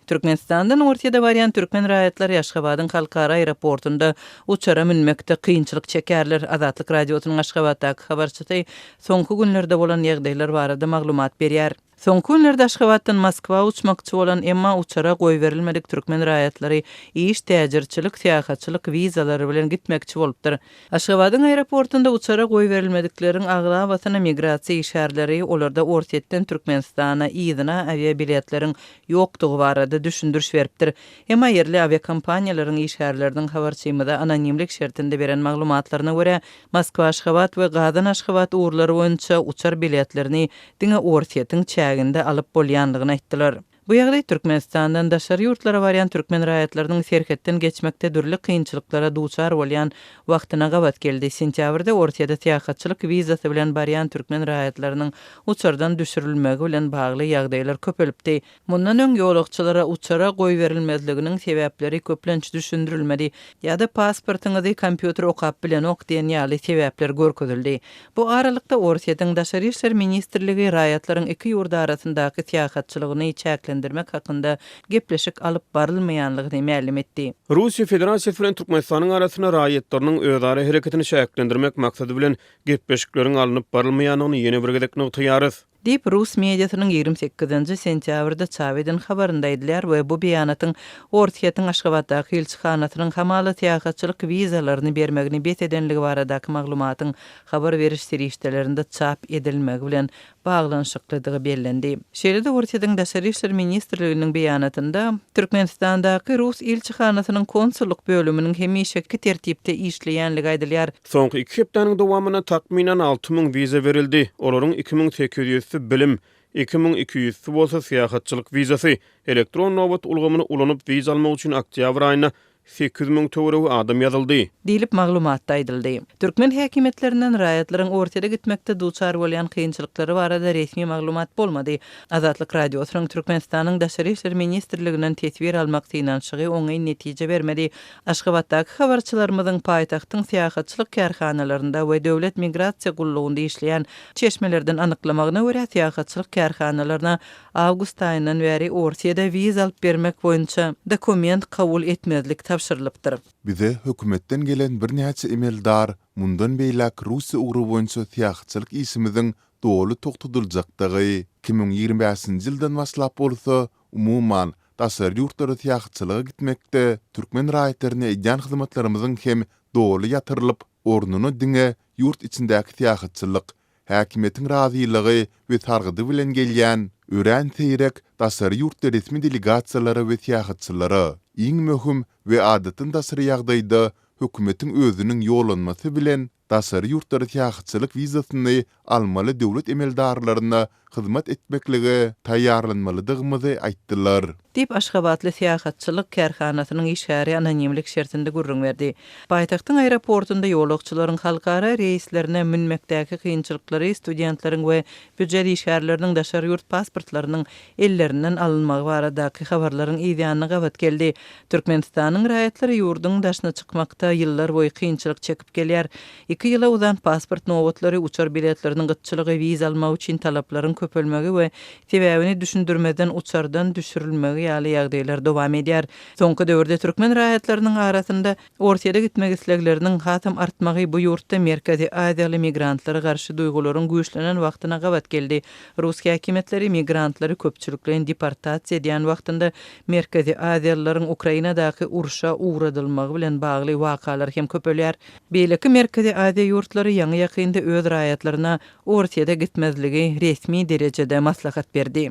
Türkmenistandan Orsýete barýan türkmen raýatlary Aşgabadyň halkara aeroportunda uçara münmekde kynçylyk çekerler. Azatlyk Radiosynyň Aşgabatdaky habarçysy soňky günlerde bolan ýagdaýlar barada maglumat berýär. Soňky günlerde Aşgabatdan Moskwa uçmakçy bolan, emma uçara goýberilmedik türkmen raýatlary iş, täjirçilik, syýahatçylyk wizalary bilen gitmekçi bolupdyr. Aşgabadyň aeroportunda uçara goýberilmedikleriň aglabasyna migrasiýa işgärleri olarda Orsýetden Türkmenistana yzyna awiabiletleriň ýokdugy barada düşündiriş beripdir. Emma ýerli awiakompaniýalaryň işgärleriniň habarçymyza anonimlik şertinde beren maglumatlaryna görä, Moskwa-Aşgabat we Gazan-Aşgabat ugurlary boýunça uçar biletlerini diňe Orsýetiň çäginde alyp bolýandygyny aýtdylar. Bu ýagdaý Türkmenistandan daşary ýurtlara barýan türkmen raýatlarynyň serhetden geçmekde dürli kynçylyklara duçar bolýan wagtyna gabat geldi. Sentýabrda Orsýede syýahatçylyk wizasy bilen barýan türkmen raýatlarynyň uçardan düşürilmegi bilen bagly ýagdaýlar köpelipdi. Mundan öň ýolagçylara uçara goýberilmezliginiň sebäpleri köplenç düşündirilmedi ýa-da pasportyňyzy kompýuter okap bilenok diýen ýaly sebäpler görkezildi. Bu aralykda, Orsýetiň Daşary işler ministrligi raýatlaryň iki ýurt arasyndaky syýahatçylygyny çäklendirmek hakynda gepleşik alyp barylmaýanlygyny mälim etdi. Russiýa Federasiýasy bilen Türkmenistanyň arasynda raýatlarynyň özara hereketini çäklendirmek maksady bilen gepleşikleriň alnyp barylmaýanlygyny ýene bir gezek nygtaýarys. Diýip, rus mediasynyň ýigrimi sekizinji sentýabrda çap eden habarynda aýdylýar we bu beýanatyň Orsýetiň Aşgabatdaky ilçihanasynyň hamala syýahatçylyk wizalaryny bermegini bes edenligi baradaky maglumatyň habar beriş serişdelerinde çap edilmegi bilen baglanyşyklydygy bellendi. Şeýle-de Orsýetiň Daşary işler ministrliginiň beýanatynda, Türkmenistandaky rus ilçihanasynyň konsullyk bölüminiň hemişeki tertipde işleýänligi aýdylýar. Soňky iki hepdäniň dowamynda takmynan alty müň wiza berildi, olaryň iki müň sekiz ýüzüsi bilim, iki müň iki ýüzüsi bolsa syýahatçylyk wizasy. Elektron nobat ulgamyny ulanyp wiza almak üçin oktýabr aýynda sekiz müň töweregi adam ýazyldy. Diýlip, maglumatda aýdyldy. Türkmen häkimiýetlerinden raýatlaryň Orsýete gitmekde duçar bolýan kynçylyklary barada resmi maglumat bolmady. Azatlyk Radiosynyň Türkmenistanyň Daşary işler ministrliginden teswir almak synanyşygy oňyn netije bermedi, Aşgabatdaky habarçylarymyzyň paýtagtyň syýahatçylyk kärhanalarynda we Döwlet migrasiýa gullugynda işleýän çeşmelerden anyklamagyna görä, syýahatçylyk kärhanalaryna awgust aýyndan bäri Orsýede wiza alyp bermek boýunça dokument kabul etmezlik tabşyrylypdyr. Bize hökümetden gelen birnäçe emeldar mundan beýläk Russiýa ugry boýunça syýahatçylyk işimiziň doly togtadyljakdygy, iki müň ýigrimi bäşinji ýyldan başlap bolsa Umuman, daşary ýurtlara syýahatçylyga gitmekde türkmen raýatlaryna edýän hyzmatlarymyzyň hem doly ýatyrylyp, ornuna diňe ýurt içindäki syýahatçylyk, häkimiýetiň razylygy we sargydy bilen gelýän, örän seýrek daşary ýurtly resmi delegasiýalara we syýahatçylara, iň möhüm we adatdan daşary ýagdaýda hökümetiň özüniň ýollanmasy bilen, daşary ýurtlara syýahatçylyk wizasyny almaly döwlet emeldarlaryna hyzmat etmeklige taýýarlanmalydygymyzy aýtdylar. Diýip, aşgabatly syýahatçylyk kärhanasynyň işgäri anonimlik şertinde gürrüň berdi. Paýtagtyň aeroportunda ýolagçylaryň halkara reýslerine münmekdäki kynçylyklary studentleriň we Býujet işgärleriniň daşary ýurt pasportlarynyň ellerinden alynmagy baradaky habarlaryň yzýanyna gabat geldi. Türkmenistanyň raýatlary ýurduň daşyna çykmakda ýyllar boýy kynçylyk çekip gelýär. Iki ýyla uzan pasport nobatlary, uçar biletleriniň gytçylygy, wiza almak üçin talaplaryň köpelmegi we sebäbini düşündirmezden uçardan düşürilmegi ýaly ýagdaýlar dowam edýär. Soňky döwürde türkmen raýatlarynyň arasynda Orsýete gitmek islegleriniň hasam artmagy bu ýurtda merkezi aziýaly migrantlara garşy duýgularyň güýçlenen wagtyna gabat geldi. Rus häkimiýetleri migrantlary köpçülikleýin deportasiýa edýän wagtynda merkezi aziýalylaryň Ukrainadaky urşa ugradylmagy bilen bagly wakalar hem köpelýär. Beýleki merkezi aziýa ýurtlary ýaňy-ýakynda öz raýatlaryna Orsýete gitmezligi resmi derejede maslahat berdi.